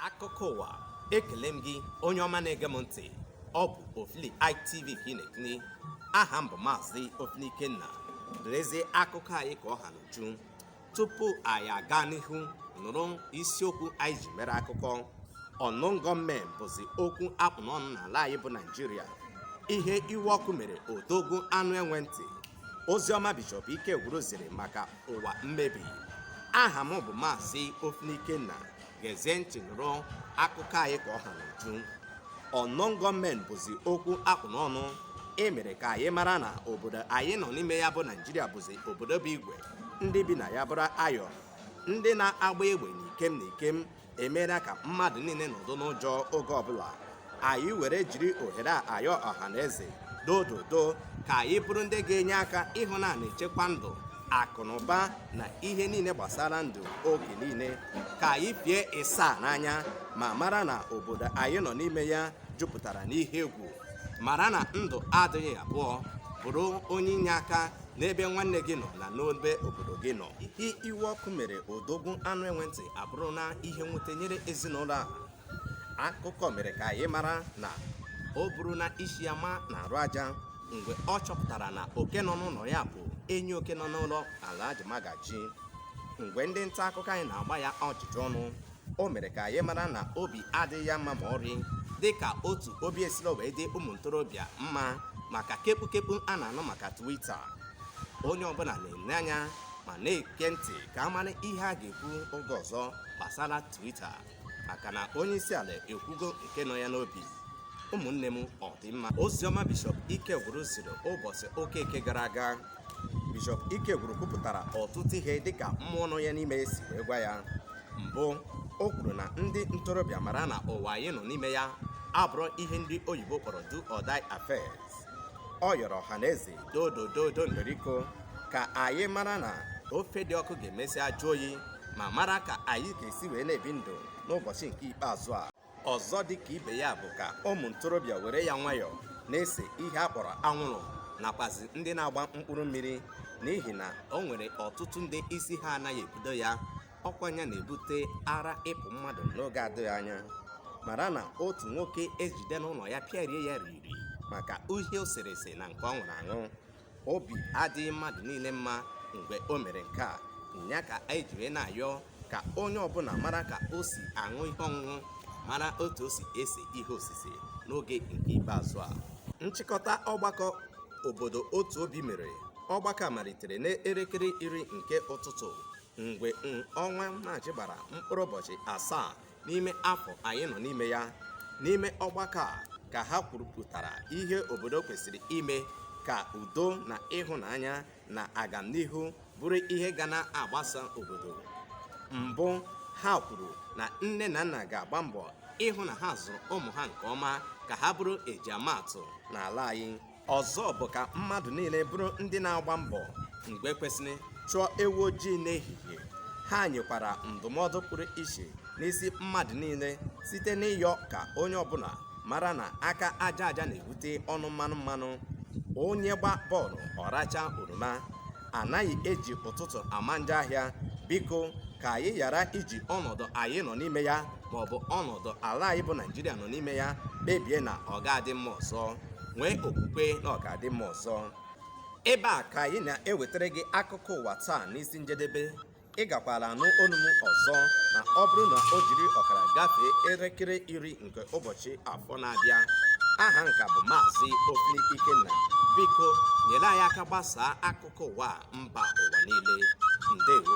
akụkọ ụwa ekele m gị onye ọma na-ege m ntị ọ bụ ofili itv ka ị na-etinye aha m bụ maazị ofili ikenna lezie akụkọ anyị ka ọ ha n'uju tupu anyị aga n'ihu nụrụ isiokwu anyị ji mere akụkọ unknown gunmen bụzi okwu a kpụ n'ọnụ n'ala anyị bụ naijiria ihe iwe ọkụ mere odogwu anụ enwe ntị oziọma bishọp Ikegwuru ziri maka ụwa mmebi aha m bụ maazị ofili ikenna gezie ntị nụrụ akụkọ anyị ka ọ ha n'uju unknown gunmen bụzi okwu a kpụ n'ọnụ e mere ka anyị mara na obodo anyị nọ n'ime ya bụ naijiria bụzi obodo bụ igwe ndị bi na ya bụrụ ayọ ndị na-agba egbe n'ikem n'ikem emeela ka mmadụ niile nọdụ n'ụjọ oge ọbụla anyị were jiri ohere a ayọ ọha na eze dododo ka anyị bụrụ ndị ga-enye aka ịhụ na a na-echekwa ndụ akụ na ụba na ihe niile gbasara ndụ oge niile ka anyị pịa ịsa n'anya ma mara na obodo anyị nọ n'ime ya jupụtara n'ihe egwu mara na ndụ adịghị abụọ bụrụ onye inyeaka n'ebe nwanne gị nọ na n'ebe obodo gị nọ ihe iwe ọkụ mere odogwu anụ enwe ntị abụrụ na ihe nwute nyere ezinụlọ a akụkọ mere ka anyị mara na o buru na isi ya ma na-arụ aja mgbe ọ chọpụtara na oke nọ n'ụlọ ya bụ enyi oke nọ n'ụlọ Alhaji Magaji mgbe ndị nta akụkọ anyị na-agba ya ajụjụ ọnụ o mere ka anyị mara na obi adịghị ya mma ma ọrị dị ka otu obi esirọ wee dị ụmụ ntorobịa mma maka kekpukekpu a na-anụ maka Twitter onye ọbụla na-ele anya ma na-ege ntị ka a mara ihe a ga-ekwu oge ọzọ gbasara Twitter maka na onye isi ala ekwugo nke nọ ya n'obi ụmụnne m ọ dị mma oziọma bishọp Ikegwuru ziri ụbọchị ụka nke gara aga Bishọp Ikegwuru kwupụtara ọtụtụ ihe dịka mmụọ nọ ya n'ime si wee gwa ya mbụ o kwuru na ndị ntorobịa mara na ụwa anyị nọ n'ime ya abụrọ ihe ndị oyibo kpọrọ do or die affairs ọ yọrọ ọha na eze dodododo ndoriko ka anyị mara na ofe dị ọkụ ga-emesịa jụọ oyi ma mara ka anyị ga-esi wee na-ebi ndụ n'ụbọchị nke ikpeazụ a ọzọ dị ka ibe ya bụ ka ụmụ ntorobịa were ya nwayọọ na-ese ihe a kpọrọ anwụrụ nakwazi ndị na-agba mkpụrụ mmiri n'ihi na o nwere ọtụtụ ndị isi ha anaghị ebudo ya ọkwa ya na-ebute ara ịpụ mmadụ n'oge adịghị anya mara na otu nwoke ejide n'ụlọ ya pịarie ya riri maka ihe o sere ese na nke ọ ṅụrụ aṅụ obi adịghị mmadụ niile mma mgbe o mere nke a ya ka anyị ji wee na-ayọ ka onye ọbụla mara ka o si aṅụ ihe ọṅụṅụ mara otu o si ese ihe osise n'oge nke ikpeazụ a nchịkọta ọgbakọ obodo otu obi mere ọgbakọ a malitere n'elekere iri nke ụtụtụ mgbe ọnwa maachị gbara mkpụrụ ụbọchị asaa n'ime afọ anyị nọ n'ime ya n'ime ọgbakọ a ka ha kwurupụtara ihe obodo kwesịrị ime ka udo na ịhụnanya na agamnihu bụrụ ihe ga na-agbasa obodo mbụ ha kwuru na nne na nna ga-agba mbọ ịhụ na ha zụrụ ụmụ ha nke ọma ka ha bụrụ ejiamaatụ n'ala anyị ọzọ bụ ka mmadụ niile bụrụ ndị na-agba mbọ mgbe kwesịrị chụọ ewu ojii n'ehihie ha nyekwara ndụmọdụ pụrụ iche n'isi mmadụ niile site n'ịyọ ka onye ọbụla mara na aka aja aja na-ebute ọnụ mmanụ mmanụ onye gbaa bọọlụ ọ rachaa oroma a naghị eji ụtụtụ ama njọ ahịa biko ka anyị ghara iji ọnọdụ anyị nọ n'ime ya maọbụ ọnọdụ ala anyị bụ naijiria nọ n'ime ya kpebie na ọ ga-adị mma ọzọ nwee okwukwe na ọ ga-adị mma ọzọ ebe a ka anyị na-ewetara gị akụkọ ụwa taa n'isi njedebe ị gakwara anụ olu m ọzọ na ọ bụrụ na o jiri ọkara gafee elekere iri nke ụbọchị afọ na-abịa aha m ka bụ maazị ofili ikenna biko nyere anyị aka gbasaa akụkọ ụwa a mba ụwa niile ndewo